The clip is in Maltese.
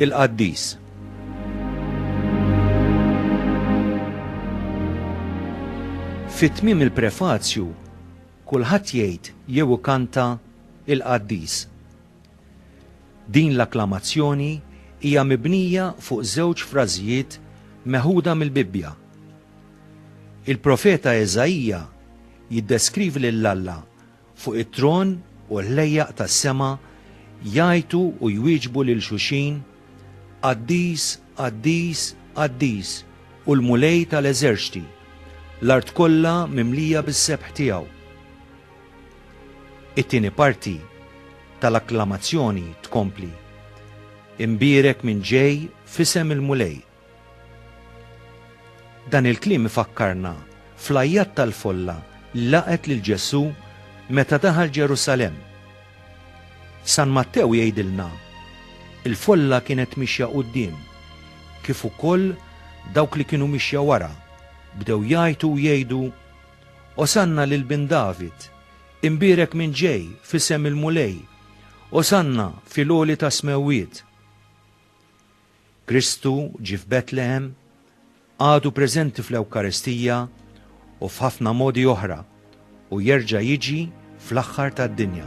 Il-Qaddis. Fi tmiem il-prefazju, kulħadd jgħid jew ikanta il-Qaddis. Din l-akklamazzjoni hija mibnija fuq żewġ frażijiet meħuda mill-Bibbja. Il-profeta Eżaija jiddeskrivi lil Alla fuq it-tron u l-ħlejjaq tas-sema jgħajtu u jwieġbu lil xulxin, Qaddis, qaddis, qaddis hu l-Mulej ta' l-eżerċti, l-art kollha mimlija bis-sebħ tiegħu. It-tieni parti tal-akklamazzjoni tkompli, Imbierek min ġej f'isem il-Mulej. Dan il-kliem ifakkarna fl-għajjat tal-folla li laqgħet lil Ġesù meta daħal Ġerusalemm. San Mattew jgħidilna, Il-folla kienet mixja quddiem, kif ukoll dawk li kienu mixja wara, bdew jgħajtu u jgħidu, Osanna lil Bin David! Imbierek min ġej f'isem il-Mulej! Osanna fil-għoli tas-smewwiet! Kristu ġie f'Betlehem, għadu preżenti fl-Ewkaristija u f'ħafna modi oħra, u jerġa' jiġi fl-aħħar tad-dinja.